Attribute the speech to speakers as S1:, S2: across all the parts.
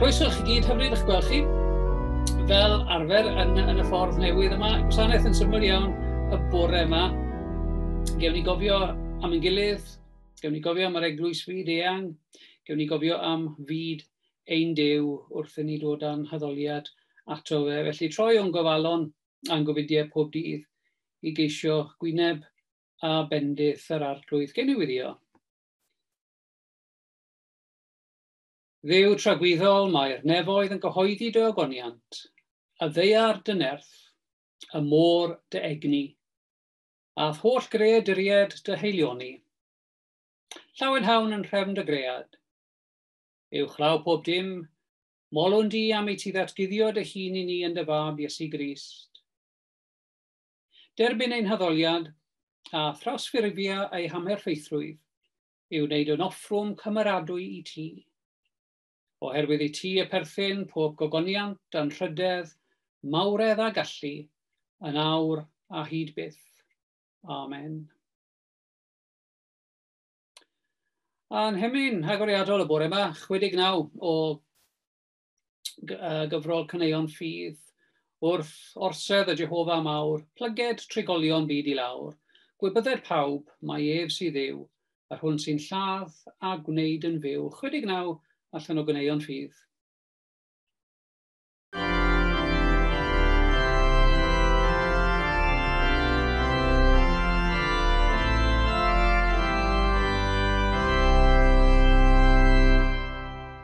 S1: Croeso i chi gyd, hyfryd eich gweld chi. Fel arfer yn, yn y ffordd newydd yma, gwasanaeth yn syml iawn y bore yma. Gewn ni gofio am ein gilydd, gewn ni gofio am yr eglwys fyd eang, gewn ni gofio am fyd ein dew wrth i ni dod â'n haddoliad ato fe. Felly troi o'n gofalon a'n gofidiau pob dydd i geisio gwyneb a bendith yr arglwydd. Gewn ni wirio. Dduw tragwyddol, mae'r nefoedd yn gyhoeddi dy ogoniant, y ddeiar dy nerth, y môr dy egni, a'th holl greaduried dy heilioni. Llawen hawn yn nhrefn dy gread. Uwchlaw pob dim, molwn di am i ti ddatguddio dy hun i ni yn dy fab Iesu Grist. Derbyn ein haddoliad a thrawsffurfio ei hamherffeithrwydd yw wneud yn offrwm cymeradwy i ti. Oherwydd i ti y perthyn pob gogoniant, anrhydedd, mawredd a gallu, yn awr a hyd byth. Amen. A'n hemyn agoriadol y bore yma, 69 o gyfrol caneuon ffydd, wrth orsedd y Jehofa mawr, plyged trigolion byd i lawr, gwybydded pawb, mae ef sydd ddiw, yr hwn sy'n lladd a gwneud yn fyw, 69 allan o gyneuon ffydd.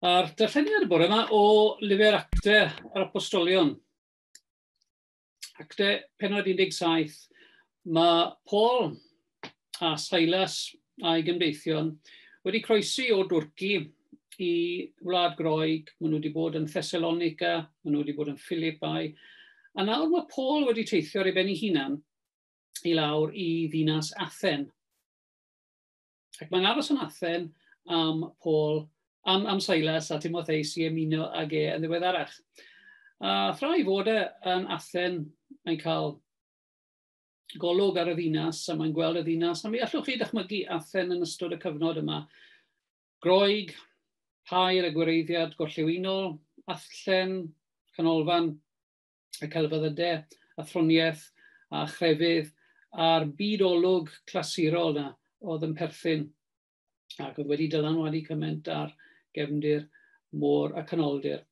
S1: A'r darlleniad y bore yma o lyfr Acte yr Apostolion. Acte penod 17. Mae Paul a Silas a'i gymdeithion wedi croesi o Dwrci i Wlad Groeg. Maen nhw wedi bod yn Thessalonica, maen nhw wedi bod yn Philippi. A nawr mae Paul wedi teithio ar ei ben ei hunan i lawr i ddinas Athen. Ac mae'n aros yn Athen am Paul, am, am Silas a Timotheus i ymuno ag e yn ddiweddarach. A thra i fod e yn Athen, mae'n cael golwg ar y ddinas a mae'n gweld y ddinas. A mi allwch chi dychmygu Athen yn ystod y cyfnod yma. Groeg, pair a gwireiddiad gorllewinol, athllen, canolfan y celfyddydau, athroniaeth a chrefydd a'r byd olwg clasurol yna oedd yn perthyn ac oedd wedi dylanwadu cymaint ar gefndir môr y canoldir.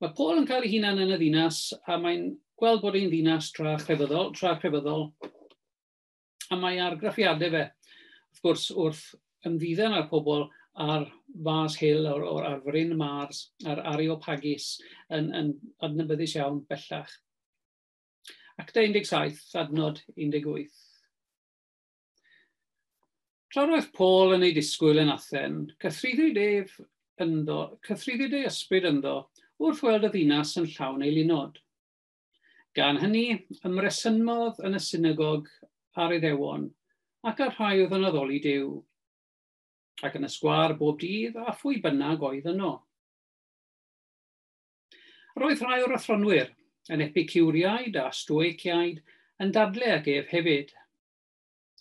S1: Mae Paul yn cael ei hunan yn y ddinas a mae'n gweld bod ein ddinas tra chrefyddol, tra chrefyddol A mae argraffiadau fe, wrth gwrs, wrth ymddiddan ar pobl ar Mars Hill, o'r, or, ar fryn Mars, ar Areopagus, yn, yn adnabyddus iawn bellach. Acta 17, adnod 18. Tra roedd Paul yn ei disgwyl yn Athen, cythryddid ef ynddo, cythryddid ei ysbryd ynddo, wrth weld y ddinas yn llawn ei lunod. Gan hynny, ymresymodd yn y synagog a'r Iddewon, ac â'r rhai oedd yn addoli Duw, ac yn y sgwâr bob dydd a phwy bynnag oedd yno. Roedd rhai o'r athronwyr, yn Epicuriaid a Stoeciaid, yn dadle ag ef hefyd,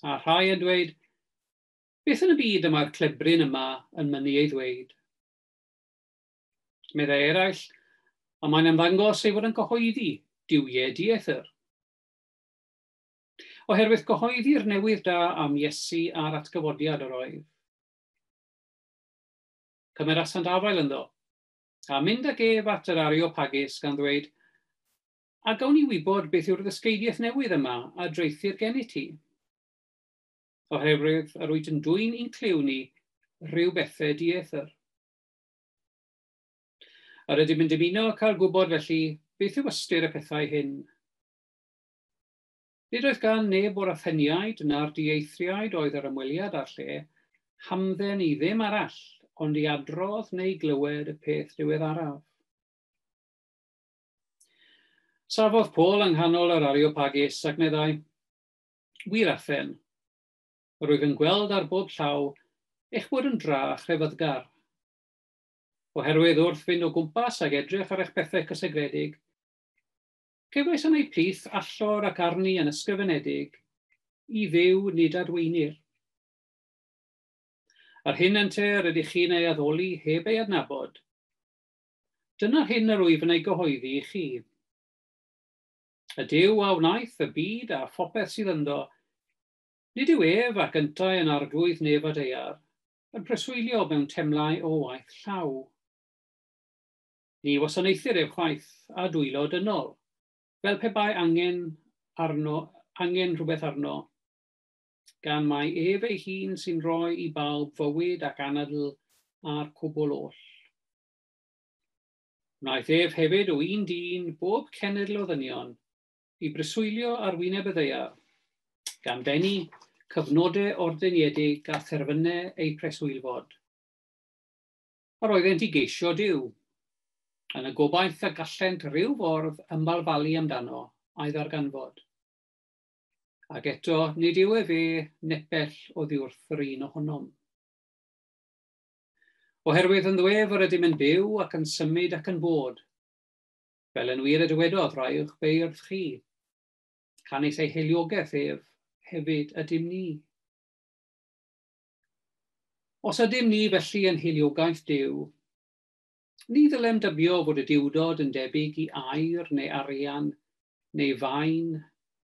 S1: a rhai yn dweud, Beth yn y byd y mae'r clebryn yma yn mynnu ei ddweud? Meddai eraill, a mae'n ymddangos ei fod yn gyhoeddi duwiau dieithr. Oherwydd cyhoeddi'r newydd da am Iesu a'r atgyfodiad yr oedd. Cymerasant afael ynddo, a mynd ag ef at yr Areopagus gan ddweud, A gawn ni wybod beth yw'r ddysgeidiaeth newydd yma a dreithir gennyt ti? Oherwydd yr wyt yn dwyn i'n clyw ni rhyw bethau dieithr. A rydym yn dymuno cael gwybod felly beth yw ystyr y pethau hyn. Nid oedd gan neb o'r Atheniaid na'r dieithriaid oedd yr ymweliad â'r lle hamdden i ddim arall ond i adrodd neu glywed y peth ddiweddaraf. Safodd Paul yng nghanol yr Areopagus ac meddai, Wir Athen, yr wyf yn gweld ar bob llaw eich bod yn dra a chrefaddgar. Oherwydd wrth fynd o gwmpas ag edrych ar eich pethau cysegredig, cefais yn ei plith allor ac arni yn ysgrifenedig, i fyw nid adweinir. Yr hyn ynte rydych chi'n ei addoli heb ei adnabod. Dyna hyn yr wyf yn ei gyhoeddi i chi. Y Dyw a wnaeth y byd a phopeth sydd ynddo, Nid yw ef ac yntau yn Arglwydd neb a deuar, yn preswylio mewn temlau o waith llaw. Ni wasanaethir ef chwaith â dwylo dynol, fel pe bai angen arno angen rhywbeth arno, gan mai ef ei hun sy'n rhoi i bawb fywyd ac anadl a'r cwbl oll. Wnaeth ef hefyd o un dyn bob cenedl o ddynion, i breswylio ar wyneb y ddaear, gan bennu cyfnode ordeiniedig a therfyne eu preswylfod. Yr oeddent i geisio Duw, yn y gobaith y gallent ryw fordd ymbalfalu amdano, a'i ddarganfod. Ac eto, nid yw efe nepell oddiwrth yr un ohonom. Oherwydd yn ddwef yr ydym yn byw ac yn symud ac yn bod, Fel yn wir y dywedodd rai o'ch beirdd chi, canys ei heiliogeth ef hefyd ydym ni. Os ydym ni felly yn heiliogaeth Duw, ni ddylem dybio fod y diwdod yn debyg i air neu arian neu fain,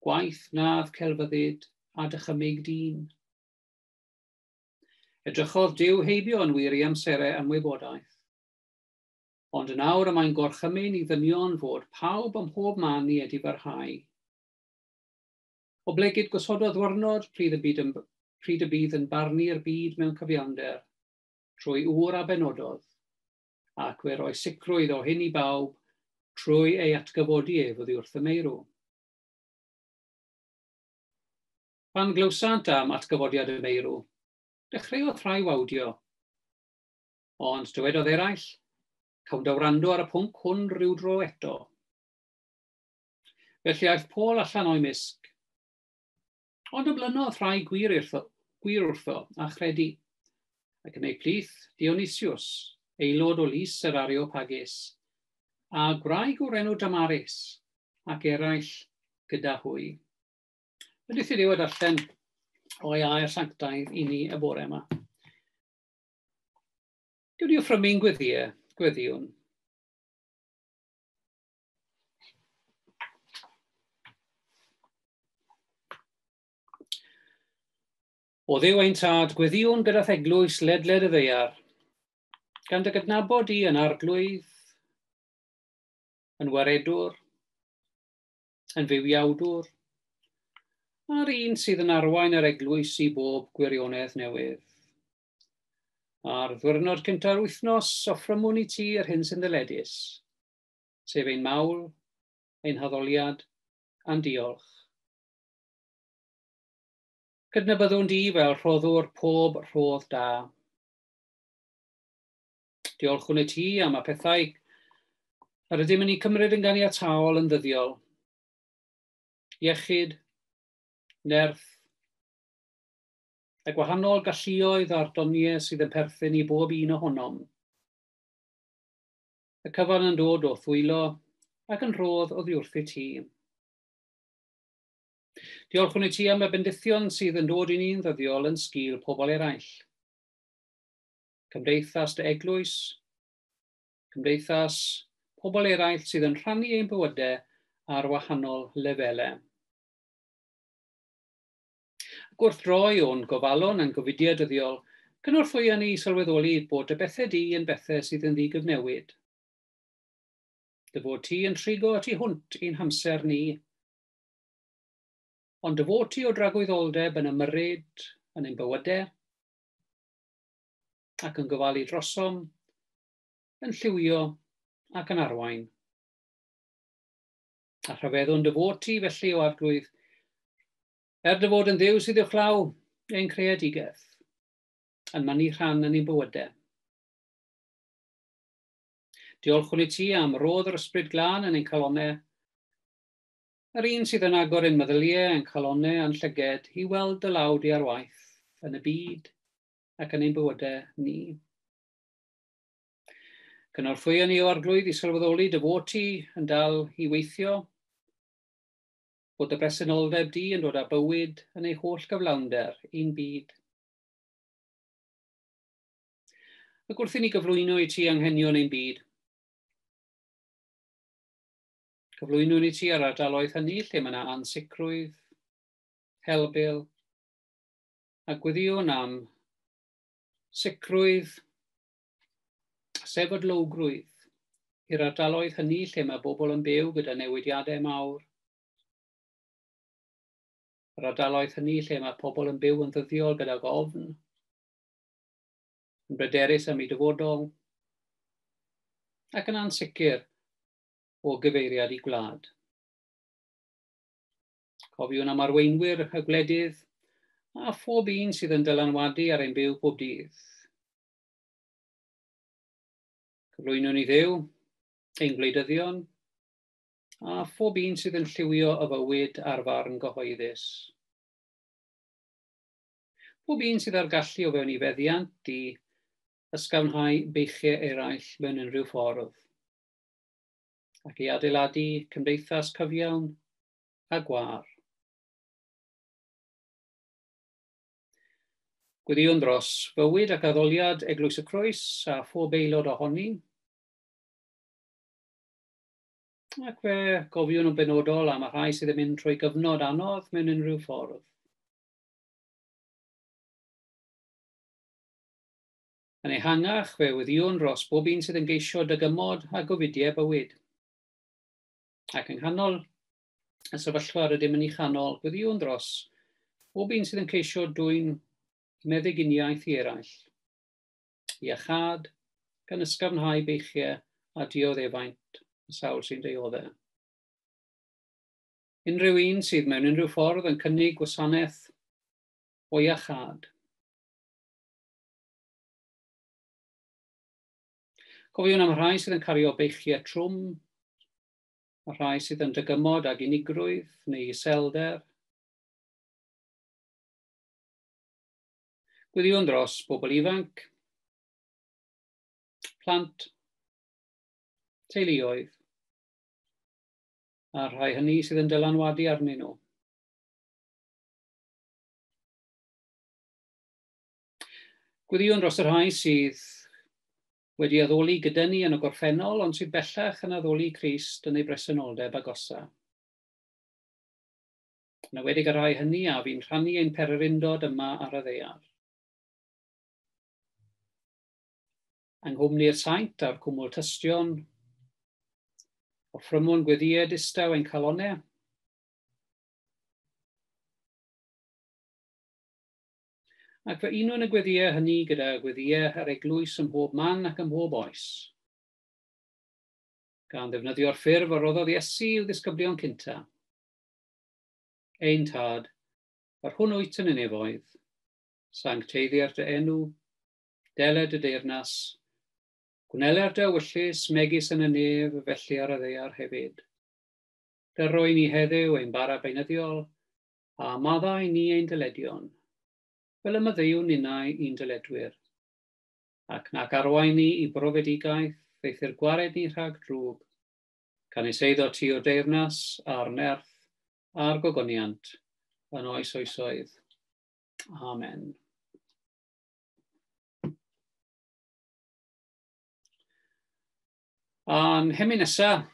S1: gwaith nad celfyddyd a dychymyg dyn. Edrychodd Duw heibio yn wir i amserau ymwybodaeth. Ond yn awr y mae'n gorchymyn i ddynion fod pawb ym mhob man i edifarhau. Oblegid gosododd ddwyrnod pryd y byd yn pryd y bydd yn barnu'r byd mewn cyfiawnder, trwy ŵr a benododd, ac fe roi sicrwydd o hyn i bawb trwy ei atgyfodi ef oddi wrth y meirw. Pan glywsant am atgyfodiad y meirw, dechreuodd rhai wawdio. Ond dywedodd eraill, Cawn da wrando ar y pwnc hwn rhyw dro eto. Felly aeth Paul allan o'i misg. Ond ymlynodd rhai gwir, irtho, gwir wrtho a chredu, ac yn ei plith Dionysius, aelod o lys yr Areopagus, a gwraig o'r enw Damaris, ac eraill gyda hwy. Ydych chi wedi allan o'i air sanctaidd i ni y bore yma. Dwi wedi ffrwm i'n gweddiau, gweddiwn. O ddew ein tad, gweddiwn gyda theglwys ledled y ddeiar, gan dy gydnabod i yn arglwydd, yn waredwr, yn fywiawdwr, a'r un sydd yn arwain yr eglwys i bob gwirionedd newydd. Ar ddwyrnod cynta'r wythnos, offrymwn i ti yr hyn sy'n ddyledus, sef ein mawl, ein haddoliad, a'n diolch. Cydnabyddwn di fel rhoddwr pob rhodd da. Diolchwn i ti am y pethau yr ydym yn ei cymryd yn ganiataol yn ddyddiol. Iechyd, nerth, a gwahanol galluoedd a'r doniau sydd yn perthyn i bob un ohonom. Y cyfan yn dod o thwylo ac yn rhodd oddi wrthyt ti. Diolchwn i ti am y bendithion sydd yn dod i ni'n ddyddiol yn sgil pobl eraill. Cymdeithas dy eglwys, cymdeithas pobl eraill sydd yn rhannu ein bywydau ar wahanol lefelau. Ac wrth roi o'n gofalon a'n gofidiau dyddiol, cynorthwya ni i sylweddoli bod dy bethau di yn bethau sydd yn ddi-gyfnewid. Dy fod ti yn trigo y tu hwnt i'n hamser ni, ond dy fod ti o dragwyddoldeb yn ymyrryd yn ein bywydau ac yn gofalu drosom, yn lliwio ac yn arwain. A rhyfeddwn dy fod ti felly o arglwydd Er dy fod yn Dduw sydd uwchlaw ein creadigaeth, yn mynnu rhan yn ein bywydau. Diolchwn i ti am rodd yr Ysbryd Glân yn ein calonau, yr un sydd yn agor ein meddyliau a'n calonau a'n llyged i weld dy law di ar waith yn y byd ac yn ein bywydau ni. Cynorthwyo ni o arglwydd i sylweddoli dy fod ti yn dal i weithio fod dy bresenoldeb di yn dod â bywyd yn ei holl gyflawnder i'n byd. Ac wrth i ni gyflwyno i ti anghenion ein byd, Cyflwynwn i ti ar ardaloedd hynny lle mae yna ansicrwydd, helbyl, a gwyddiwn am sicrwydd sefydlogrwydd i'r ardaloedd hynny lle mae bobl yn byw gyda newidiadau mawr, yr ardaloedd hynny lle mae pobl yn byw yn ddyddiol gydag ofn, yn bryderus am ei dyfodol, ac yn ansicr o gyfeiriad i gwlad. Cofiwn am arweinwyr y gwledydd a phob un sydd yn dylanwadu ar ein byw pob dydd. Cyflwyno ni ddew, ein gwleidyddion, a phob un sydd yn lliwio y fywyd ar farn gyhoeddus. Pob un sydd â'r gallu o fewn ei feddiant i ysgafnhau beichiau eraill mewn unrhyw ffordd, ac i adeiladu cymdeithas cyfiawn a gwar. Gweddïwn dros fywyd ac addoliad Eglwys y Croes a phob aelod ohoni. Ac fe gofiwn yn benodol am y rhai sydd yn mynd trwy gyfnod anodd mewn unrhyw ffordd. Yn ehangach, fe weddiwn dros bob un sydd yn geisio dygymod a gofidiau bywyd. Ac yng nghanol y sefyllfa rydym yn ei chanol gweddïwn dros bob un sydd yn ceisio dwy'n meddyginiaeth i eraill. Iachad, gan ysgafnhau beichiau a dioddefaint y sawl sy'n deioddau. Unrhyw un sydd mewn unrhyw ffordd yn cynnig gwasanaeth o iachad. Cofiwn am y rhai sydd yn cario beichiau trwm, y rhai sydd yn dygymod ag unigrwydd neu iselder, Gwyddïwn dros bobl ifanc, plant, teuluoedd, a'r rhai hynny sydd yn dylanwadu arnyn nhw. Gwyddïwn dros y rhai sydd wedi addoli gyda ni yn y gorffennol, ond sydd bellach yn addoli Crist yn ei bresenoldeb agosa. Yn awedig y rhai hynny a fi'n rhannu ein pererindod yma ar y ddeiar. Yng nghwmni'r saint a'r cwmwl tystion, o ffrymwn gweddied istaw ein calonne, Ac fe unwn y gweddïau hynny gyda gweddïau yr eglwys ym mhob man ac ym mhob oes. Gan ddefnyddio'r ffurf a roddodd Iesu i'w ddisgyblion cynta. Ein Tad, yr hwn wyt yn y nefoedd, sancteiddier dy enw, dele dy deyrnas, gwneler dy ewyllys megis yn y nef felly ar y ddeiar hefyd. Dyrroi ni heddiw ein bara beinyddiol, a maddau ni ein dyledion, fel y maddeu ninnau i'n dyledwyr, ac nac arwain ni i brofedigaeth, eithr gwared ni rhag drwg, canys eiddo ti yw'r deyrnas, a'r nerth, a'r gogoniant, yn oes oesoedd. Amen. A'n hemyn nesaf,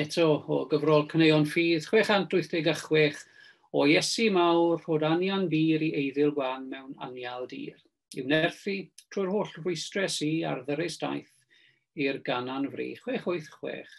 S1: eto o gyfrol Cyneuon Ffydd 686, O Iesu mawr, rhod anian bur i eiddil wan mewn anial dir, i'w nerthu trwy'r holl rwystres i ar ddyrus daeth i'r ganan fri 686.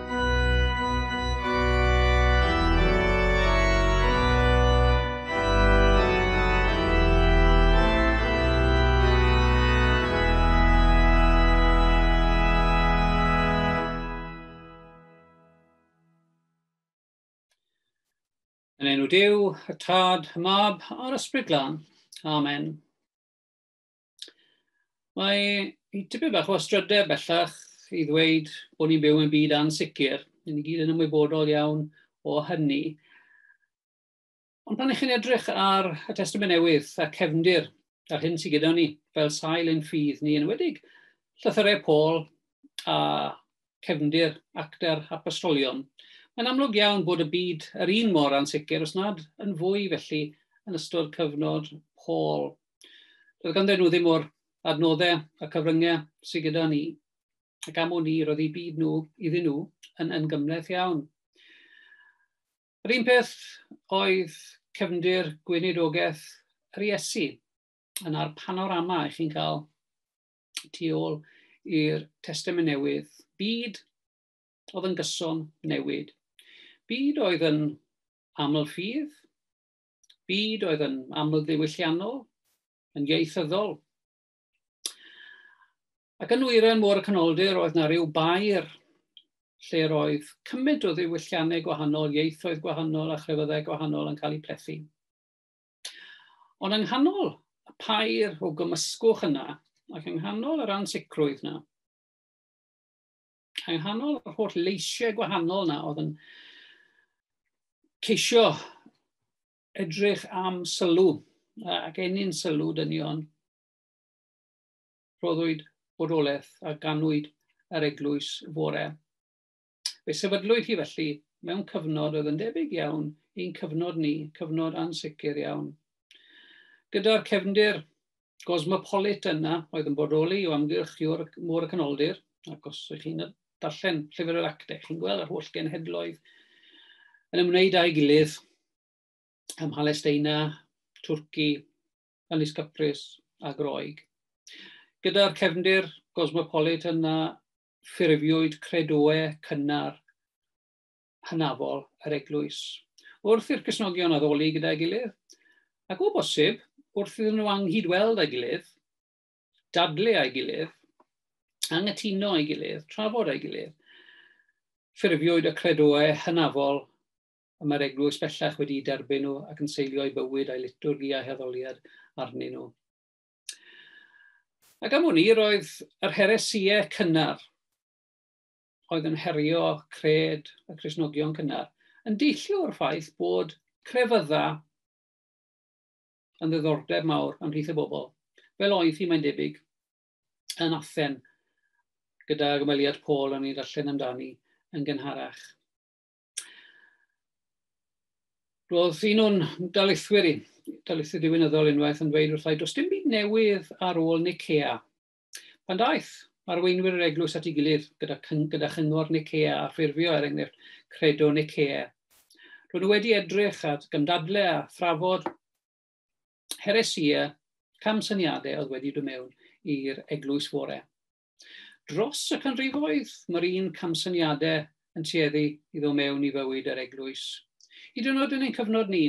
S1: Yn enw Dyw, y Tad, y Mab a'r Ysbryd Glân. Amen. Mae hi tipyn bach o astrydau bellach i ddweud bod ni'n byw yn byd ansicr. Ni ni gyd yn ymwybodol iawn o hynny. Ond pan ych chi'n edrych ar y Testament Newydd a cefndir a'r hyn sydd gyda ni fel sail ein ffydd ni, yn wedig llythyrau Paul a cefndir actor apostolion, mae'n amlwg iawn bod y byd yr un mor ansicr, os nad yn fwy felly, yn ystod cyfnod Paul. Doedd ganddyn nhw ddim o'r adnoddau a cyfryngau sydd gyda ni. Ac am wn i, roedd eu byd nhw iddyn nhw yn, yn gymleth iawn. Yr un peth oedd cefndir gweinidogaeth yr Iesu. Yna'r panorama i chi'n cael tu ôl i'r Testament Newydd. Byd oedd yn gyson newid. Byd oedd yn aml ffydd, byd oedd yn amlddiwylliannol, yn ieithyddol. Ac yn wyren môr y canoldir oedd na rhyw bair lle roedd cymaint o ddiwylliannau gwahanol, ieithoedd gwahanol a chrefyddau gwahanol yn cael eu plethu. Ond yng nghanol y pair o gymysgwch yna, ac yng nghanol yr ansicrwydd yna, Rhain hanol yr holl leisiau gwahanol na oedd yn ceisio edrych am sylw ac enyn sylw dynion rhoddwyd bodolaeth a ganwyd yr eglwys fore. Fe sefydlwyd hi felly mewn cyfnod oedd yn debyg iawn i'n cyfnod ni, cyfnod ansicr iawn. Gyda'r cefndir Gosmopolit yna oedd yn bodoli o amgylch Môr y Canoldir, ac os ych chi'n darllen Llyfr yr Actau, chi'n gweld yr holl genhedloedd yn ymwneud â'i gilydd ym Mhalesteina, Twrci, Ynys Cyprus a Groeg. Gyda'r cefndir gosmopolit yna, ffurfiwyd credoau cynnar hynafol yr eglwys, wrth i'r Cristnogion addoli gyda'i gilydd, ac o bosib, wrth iddyn nhw anghydweld â'i gilydd, dadle â'i gilydd, angytuno â'i gilydd, trafod â'i gilydd. Ffurfiwyd y credoau hynafol y mae'r eglwys bellach wedi derbyn nhw ac yn seilio'i bywyd a'i liturgi a'i heddoliad arnyn nhw. Ac am hwn i, roedd yr heresiau cynnar oedd yn herio cred y Cristnogion cynnar yn deillio o'r ffaith bod crefydda yn ddiddordeb mawr ymhlith y bobl, fel oedd hi mae'n debyg yn Athen, gyda gymeliad Paul yn ei ddarllen amdani yn gynharach. Roedd un o'n daleithwyr i, daleithwyr diwynyddol unwaith yn dweud wrthai, does dim byd newydd ar ôl Nicea. Pan daeth arweinwyr yr eglwys at ei gilydd gyda, gyda chyngor Nicea a ffurfio er enghraifft credo Nicea, roedd nhw wedi edrych at gymdadle a thrafod heresia camsyniadau oedd wedi dod mewn i'r eglwys fore. Dros y canrifoedd, mae'r un camsyniadau yn tueddu i ddod mewn i fywyd yr eglwys. Hyd yn oed yn ein cyfnod ni,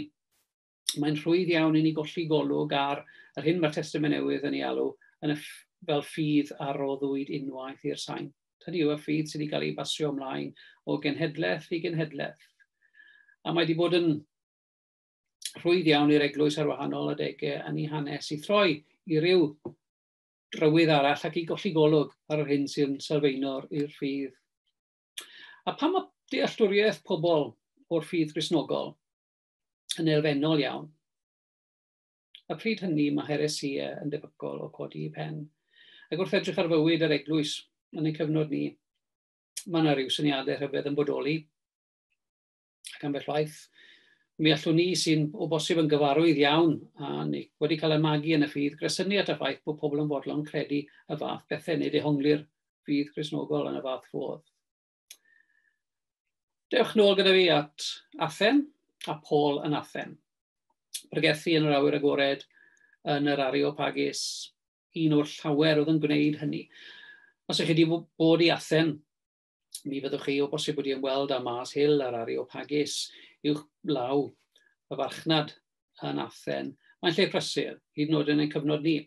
S1: mae'n rhwydd iawn i ni golli golwg ar yr hyn mae'r Testament Newydd yn ei alw yn y fel ffydd a roddwyd unwaith i'r sain. Hynny yw y ffydd sydd wedi cael ei basio ymlaen o genhedlaeth i genhedlaeth. A mae wedi bod yn rhwydd iawn i'r eglwys ar wahanol adegau yn ei hanes i throi i ryw drywydd arall ac i golli golwg ar yr hyn sy'n sylfaenor i'r ffydd. A pam mae dealltwriaeth pobl o'r ffydd grisnogol yn elfennol iawn. A phryd hynny mae heresia yn debygol o codi i pen. Ac wrth edrych ar fywyd yr eglwys yn y cyfnod ni, mae yna rhyw syniadau rhyfedd yn bodoli. Ac ambell waith, mi allwn ni sy'n o bosib yn gyfarwydd iawn a ni wedi cael ei magu yn y ffydd gresynu at y ffaith bod pobl yn fodlon credu y fath bethau neu dehongli'r ffydd grisnogol yn y fath fodd. Dewch nôl gyda fi at Athen a Paul yn Athen. Pregethu yn yr awyr agored yn yr Areopagus, un o'r llawer oedd yn gwneud hynny. Os ydych chi wedi bod i Athen, mi fyddwch chi o bosib wedi ymweld â Mars Hill a'r Areopagus i'w law y farchnad yn Athen. Mae'n lle prysur, hyd yn oed yn ein cyfnod ni.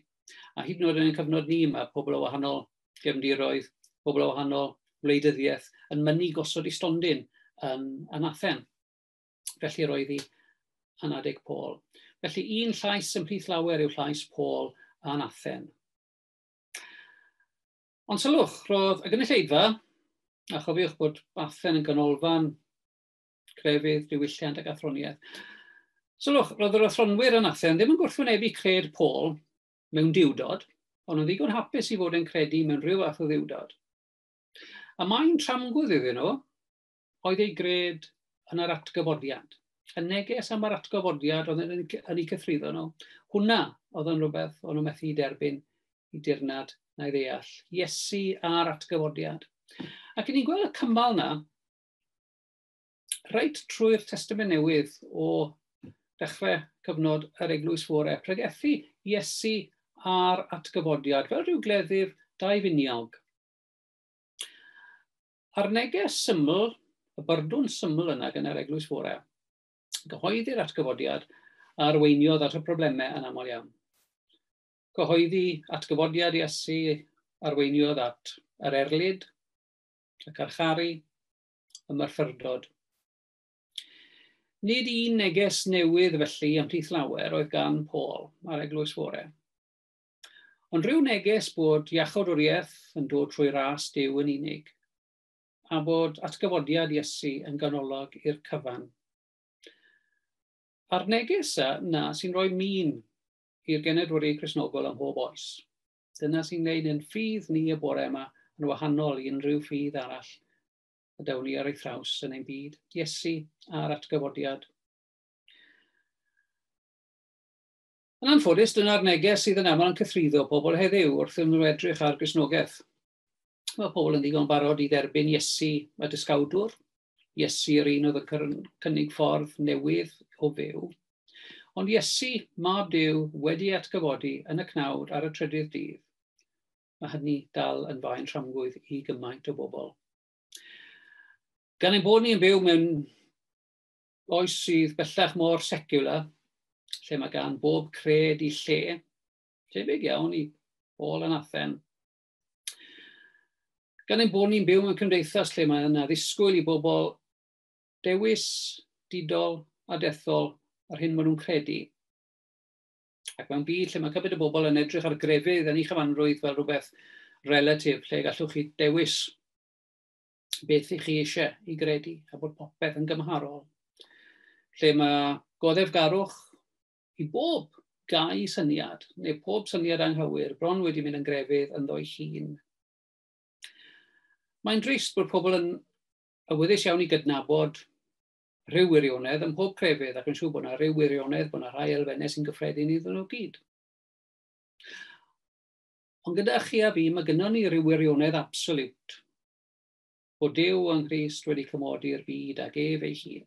S1: A hyd yn oed yn ein cyfnod ni, mae pobl o wahanol gefndiroedd, pobl o wahanol wleidyddiaeth yn mynnu gosod i stondin yn, yn Athen. Felly roedd hi yn adeg Paul. Felly un llais ymhlith lawer yw llais Paul yn Athen. Ond sylwch, roedd y gynulleidfa, a chofiwch bod Athen yn ganolfan crefydd, diwylliant ac athroniaeth. Sylwch, roedd yr athronwyr yn Athen ddim yn gwrthwynebu cred Paul mewn diwdod, ond yn ddigon hapus i fod yn credu mewn rhyw fath o ddiwdod. A mae'n tramgwdd iddyn nhw oedd ei gred yn yr atgyfodiad. Y neges am yr atgyfodiad oedd yn, yn ei cythruddo nhw. Hwna oedd yn rhywbeth o'n nhw methu i derbyn i dirnad na i ddeall. Iesu a'r atgyfodiad. Ac ni'n gweld y cymal na reit trwy'r Testament Newydd o dechrau cyfnod yr Eglwys Fore, pregethu Iesu a'r atgyfodiad fel rhyw gleddyf dau finiog. A'r neges syml, y byrdwn syml yna gan yr Eglwys Fore, gyhoeddi'r atgyfodiad a arweiniodd at y problemau yn aml iawn. Gyhoeddi atgyfodiad Iesu arweiniodd at yr erlid, y carcharu, y Marfyrdod. Nid un neges newydd felly ymhlith lawer oedd gan Paul ar Eglwys Fore. Ond rhyw neges bod iachawdwriaeth yn dod trwy ras Dyw yn unig, a bod atgyfodiad Iesu yn ganolog i'r cyfan. A'r neges yna sy'n rhoi min i'r genedwri Cresnogol ym mhob oes. Dyna sy'n gwneud yn ffydd ni y bore yma yn wahanol i unrhyw ffydd arall y dawn ni ar ei thraws yn ein byd. Iesu a'r atgyfodiad. Yn anffodus, dyna'r neges sydd yn aml yn cythruddo pobl heddiw wrth iddyn nhw edrych ar Gristnogaeth. Mae pobl yn ddigon barod i dderbyn Iesu a dysgawdwr. Iesu yr un oedd yn cynnig ffordd newydd o fyw. Ond Iesu, mab Dyw, wedi atgyfodi yn y cnawd ar y trydydd dydd. Mae hynny dal yn faen tramgwydd i gymaint o bobl. Gan ein bod ni'n byw mewn oes sydd bellach mor secular, lle mae gan bob cred i lle, tebyg iawn i ôl yn athen, Gan ein bod ni'n byw mewn cymdeithas lle mae yna ddisgwyl i bobl dewis didol a dethol yr hyn maen nhw'n credu, ac mewn byd lle mae cymaint o bobl yn edrych ar grefydd yn ei chyfanrwydd fel rhywbeth relatif lle gallwch chi dewis beth i chi eisiau i gredu a bod popeth yn gymharol. Lle mae goddefgarwch I bob gau syniad, neu pob syniad anghywir, bron wedi mynd yn grefydd ynddo'i hun. Mae'n drist bod pobl yn awyddus iawn i gydnabod rhyw wirionedd ym mhob crefydd ac yn siŵr bod yna rhyw wirionedd, bod yna rhai elfennau sy'n gyffredin iddyn nhw gyd. Ond gyda chi a fi, mae gynnwn ni rhyw wirionedd absolut bod Dyw yng Nghrist wedi cymodi'r byd ag ef ei hun.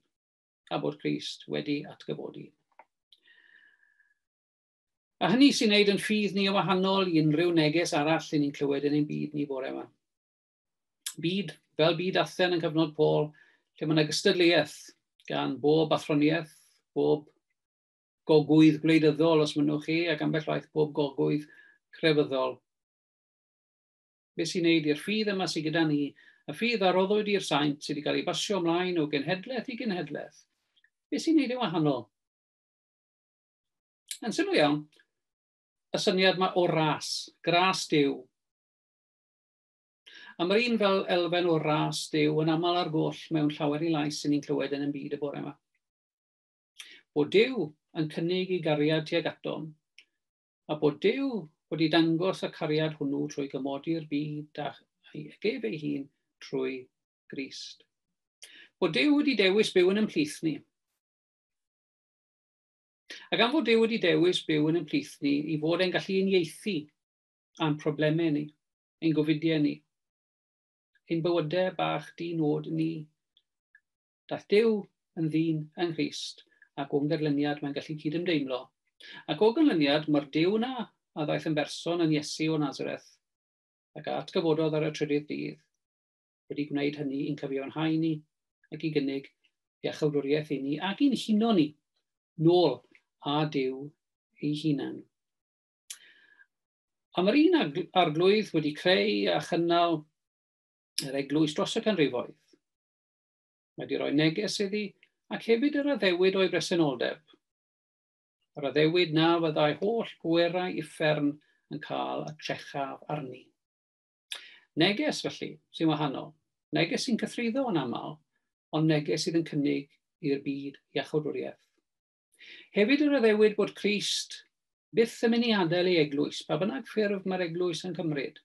S1: a bod Christ wedi atgyfodi. A hynny sy'n neud yn ffydd ni o wahanol i unrhyw neges arall yn ni'n clywed yn ein byd ni bore yma. Byd, fel byd Athen yn cyfnod Paul, lle mae yna gystadleuaeth gan bob athroniaeth, bob gogwydd gwleidyddol os mynnwch chi, ac ambell waith bob gogwydd crefyddol. Be sy'n wneud i'r ffydd yma sy gyda ni, y ffydd a roddwyd i'r saint sydd wedi cael ei basio ymlaen o genhedlaeth i genhedlaeth, be sy'n wneud e'n wahanol? Yn syml iawn, y syniad mae o ras, gras Dyw. A mae'r un fel elfen o ras Dyw yn aml ar goll mewn llawer i lais sy'n ni'n clywed yn y byd y bore yma. Bod Dyw yn cynnig ei gariad tuag atom, a bod Duw wedi dangos y cariad hwnnw trwy gymodi'r byd â'i ef ei hun trwy Grist. Bod Duw wedi dewis byw yn ymhlith ni. A gan fod Duw wedi dewis byw yn ymplith ni i fod e'n gallu uniaethu a'n problemau ni, ein gofidiau ni, ein bywydau bach di-nod ni, Daeth Duw yn ddyn yng Nghrist, ac o'n ganlyniad mae'n gallu cyd-ymdeimlo. Ac o ganlyniad, mae'r Duw yna a ddaeth yn berson yn Iesu o Nazareth, ac a atgyfododd ar y trydydd dydd, wedi gwneud hynny i'n cyfiawnhau ni ac i gynnig ei achylwriaeth i ni ac i'n huno ni nôl â Duw ei hunan. A mae'r un arglwydd wedi creu a chynnal yr eglwys dros y canrifoedd. Mae di roi neges iddi ac hefyd yr addewid o'i bresenoldeb. Yr addewid na fyddai holl bwerau uffern yn cael y trechaf arni. Neges, felly, sy'n wahanol. Neges sy'n cythruddo yn aml, ond neges sydd yn cynnig i'r byd iachawdwriaeth. Hefyd yr addewid bod Crist byth yn mynd i adael ei eglwys, pa bynnag ffurf mae'r eglwys yn cymryd.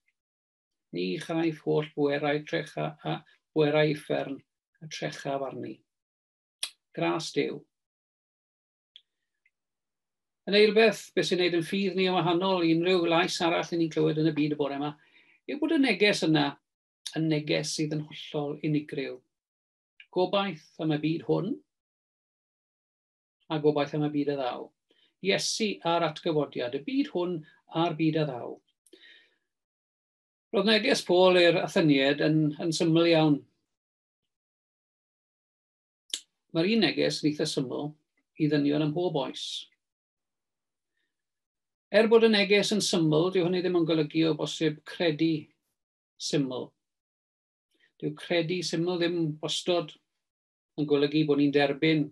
S1: Ni chaiff holl bwerau trecha a bwerau uffern y trechaf arni. Gras Duw. Yn eilbeth, beth sy'n gwneud yn ffydd ni yn wahanol i unrhyw lais arall ni'n clywed yn y byd y bore yma, yw bod y neges yna yn neges sydd yn hollol unigryw. Gobaith am y byd hwn. a gobaith am y byd a ddaw. Iesu a'r atgyfodiad, y byd hwn a'r byd a ddaw. Roedd neges Paul i'r Athenied yn, yn syml iawn. Mae'r un neges yn eitha syml i ddynion am hob oes. Er bod y neges yn syml, dyw hynny ddim yn golygu o bosib credu syml. Dyw credu syml ddim wastod yn golygu bod ni'n derbyn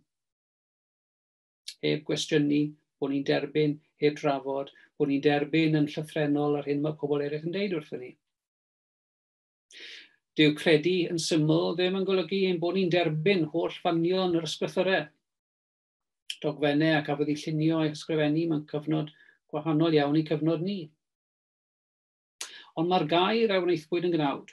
S1: heb gwestiynu, bod ni'n derbyn heb drafod, bod ni'n derbyn yn llythrenol yr hyn mae pobl eraill yn deud wrthyn ni. Dyw credu yn syml ddim yn golygu ein bod ni'n derbyn holl fanion yr ysgrythyrau. Dogfennau ac afodd i llunio ei hysgrifennu mewn cyfnod gwahanol iawn i cyfnod ni. Ond mae'r gair a wnaethpwyd yn gnawd.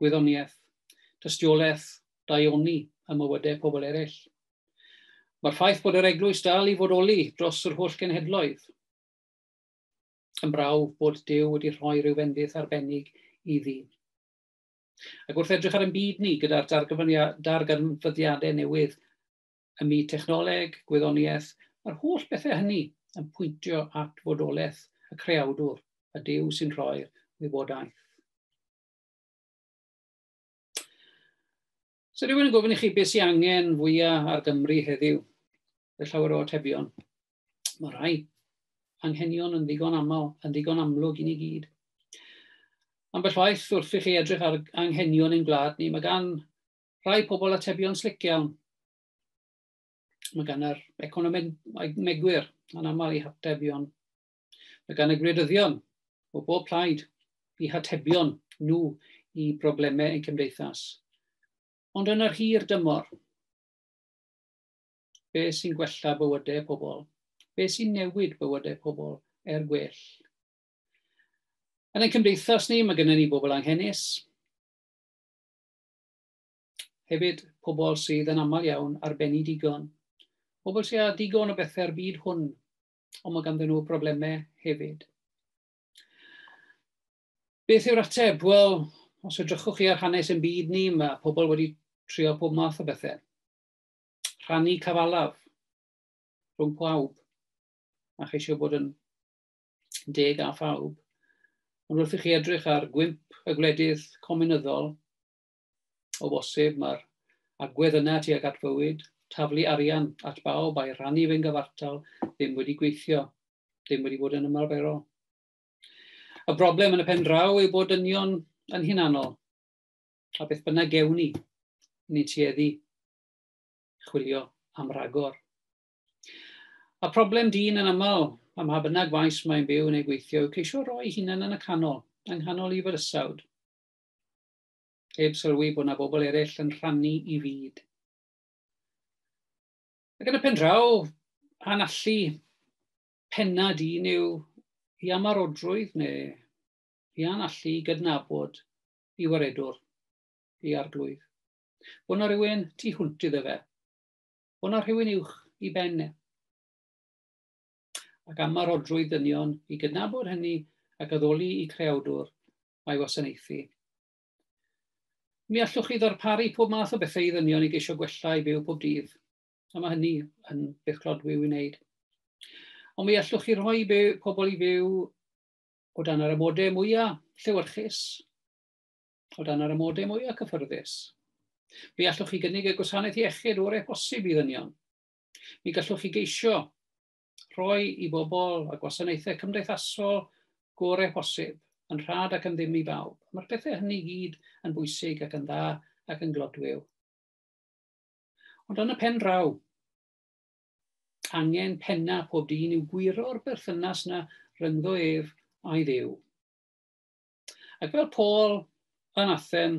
S1: gwyddoniaeth, dystiolaeth, daioni a mywydau pobl eraill. Mae'r ffaith bod yr eglwys dal i fodoli dros yr holl genhedloedd yn brawf bod Dyw wedi rhoi rhyw fendith arbennig iddi. Ac wrth edrych ar ein byd ni gyda'r darganfyddiadau newydd ym myd technoleg, gwyddoniaeth, mae'r holl bethau hynny yn pwyntio at fodolaeth y creawdwr, y Dyw sy'n rhoi'r wybodaeth. So rhywun yn gofyn i chi beth sy'n angen fwyaf ar Gymru heddiw? Fe llawer o atebion. Mae rhai anghenion yn ddigon aml, yn ddigon amlwg i ni gyd. Ambell waith wrth i chi edrych ar anghenion ein gwlad ni, mae gan rhai pobl atebion slic iawn. Mae gan yr economegwyr yn aml i hatebion Mae gan y gwleidyddion o bob plaid i hatebion nhw i broblemau ein cymdeithas. Ond yn yr hir dymor, be sy'n gwella bywydau pobl? Be sy'n newid bywydau pobl er gwell? Yn ein cymdeithas ni, mae gennym ni bobl anghenus, hefyd pobl sydd yn aml iawn ar ben i digon, pobl sydd â digon o bethau ar byd hwn ond mae ganddyn nhw broblemau hefyd. Beth yw'r ateb? Wel, os edrychwch chi ar hanes yn byd ni, mae pobl wedi trio pob math o bethau. Rhannu cyfalaf rhwng pawb a cheisio bod yn deg a phawb. Ond wrth i chi edrych ar gwymp y gwledydd cominyddol, O bosib, mae'r agwedd yna tuag at fywyd, taflu arian at bawb a'i rhannu fe'n gyfartal, ddim wedi gweithio, ddim wedi bod yn ymarferol. Y broblem yn y pen draw yw bod dynion yn hunanol, a beth bynnag gewn ni, ni'n tueddu chwilio am ragor. A problem dyn yn aml, am ha bynnag faes mae'n byw neu gweithio, yw ceisio roi hunan yn y canol, yng nghanol i fyrysawd. heb sylwi bod yna bobl eraill yn rhannu i fyd. Ac yn y pen draw, a'n allu penna di yw i amarodrwydd neu i a'n allu i gydnabod i waredwr, i arglwydd. Bod yna rhywun tu hwnt iddo fe. Bod yna rhywun uwch i ben e. Ac amarodrwydd ddynion i gydnabod hynny ac addoli i creawdwr a'i wasanaethu. Mi allwch chi ddarparu pob math o bethau i ddynion i geisio gwella i byw pob dydd, a mae hynny yn beth clodwiw i wneud. Ond mi allwch chi rhoi byw, pobl i fyw o dan yr amodau mwyaf llewyrchus, o dan yr amodau mwyaf cyffyrddus. Mi allwch chi gynnig y gwasanaeth iechyd o'r e-posib i ddynion. Mi gallwch chi geisio rhoi i bobl a gwasanaethau cymdeithasol gorau posib, yn rhad ac yn ddim i bawb. Mae'r pethau hynny gyd yn bwysig ac yn dda ac yn glodwiw. Ond yn y pen draw, angen penna pob dyn yw gwiro'r berthynas na ryngddo ef a'i ddew. Ac fel Paul yn Athen,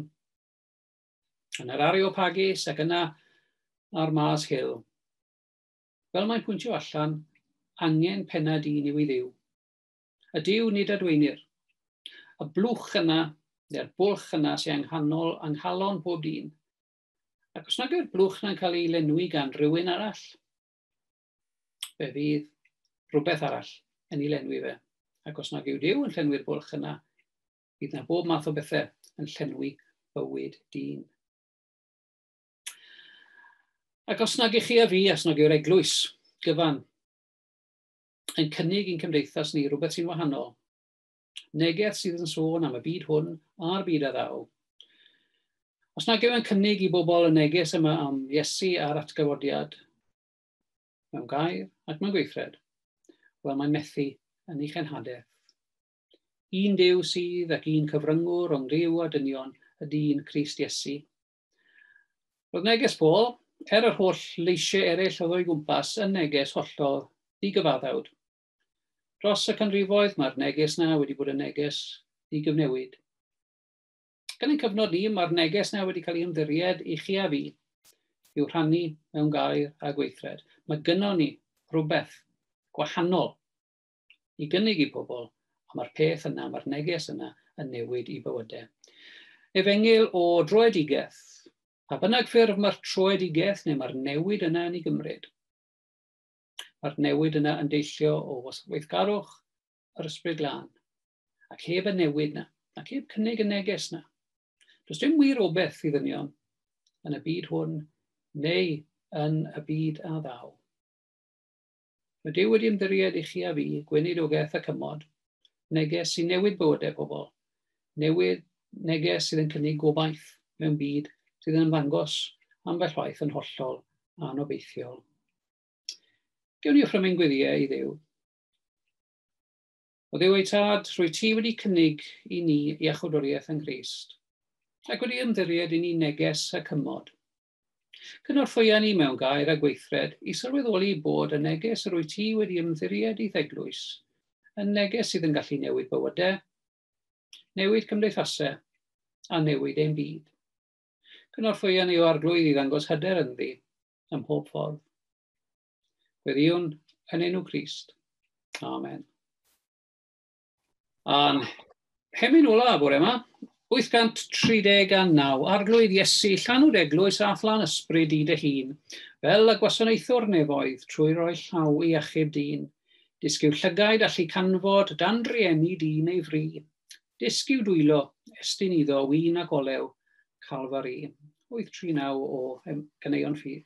S1: yn yr Areopagus ac yna ar Mars Hill, Fel mae'n pwyntio allan, angen pennad un yw i Dduw. A Duw nid adweinir. Y blwch yna, neu'r bwlch yna sy anghanol yng nghalon pob dyn. Ac os nad yw'r blwch yna'n cael ei lenwi gan rywun arall, fe fydd rhywbeth arall yn ei lenwi fe. Ac os nad yw Duw yn llenwi'r bwlch yna, bydd na bob math o bethau yn llenwi bywyd dyn. Ac os nag i chi a fi, os nag yw'r eglwys gyfan yn cynnig i'n cymdeithas ni rhywbeth sy'n wahanol, neges sydd yn sôn am y byd hwn a'r byd a ddaw, os nag yw'n cynnig i bobl y neges yma am Iesu a'r atgyfodiad, mewn gair ac mewn gweithred, wel mae'n methu yn ei chenhadaeth. Un dew sydd ac un cyfryngwr o'n rhyw a dynion y dyn Crist Iesu, Roedd neges Paul, er yr holl leisiau eraill oedd o'i gwmpas, yn neges hollol ddigyfaddawd. Dros y canrifoedd mae'r neges na wedi bod yn neges ddigyfnewid. Gan ein cyfnod ni, mae'r neges na wedi cael ei ymddiried i chi a fi i'w rhannu mewn gair a gweithred. Mae gynnon ni rhywbeth gwahanol i gynnig i bobl, a mae'r peth yna, mae'r neges yna yn newid i bywyde. Efengyl o droedigeth. Pa bynnag ffurf mae'r troedigeth neu mae'r newid yna yn ei gymryd. Mae'r newid yna yn deillio o weithgarwch yr ysbryd glân. Ac heb y newid yna, ac heb cynnig y neges yna, does dim wir obeth i ddynion yn y byd hwn neu yn y byd a ddaw. Mae Duw wedi ymddiried i chi a fi, gweinidogeth a cymod, neges sy'n newid bywydau pobl, newid neges sydd yn cynnig gobaith mewn byd sydd yn ymddangos ambell waith yn hollol anobeithiol. Gewn ni ochrymu'n gwyddiau i ddew. O ddew ei tad, rwy ti wedi cynnig i ni iachawdwriaeth yng Nghyst, ac wedi ymddiried i ni neges a cymod, Cynorthwya ni mewn gair a gweithred i sylweddoli bod y neges yr wyt ti wedi ymddiried i'th eglwys yn neges sydd yn gallu newid bywydau, newid cymdeithasau a newid ein byd. Cynorthwya ni o arglwydd i ddangos hyder ynddi ym mhob ffordd. Gweddïwn yn enw Crist. Amen. A'n hemyn ola bore yma, 839, Arglwydd Iesu, llanw'r eglwys a phlan ysbryd i dy hun, fel y gwasanaethwr nefoedd trwy roi llaw i achub dyn. Dysgu llygaid allu canfod dan drieni di neu fri. Dysgu dwylo, estyn iddo wyn ac olew, Calfari. 839 o Ganeuon Ffydd.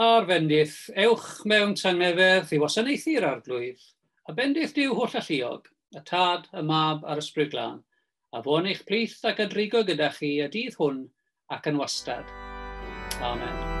S1: a'r bendith, ewch mewn tangnefedd i wasanaethu'r Arglwydd, a bendith Duw holl alluog, y Tad, y Mab, a'r Ysbryd Glân, a fo yn eich plith ac yn rhigo gyda chi y dydd hwn ac yn wastad. Amen.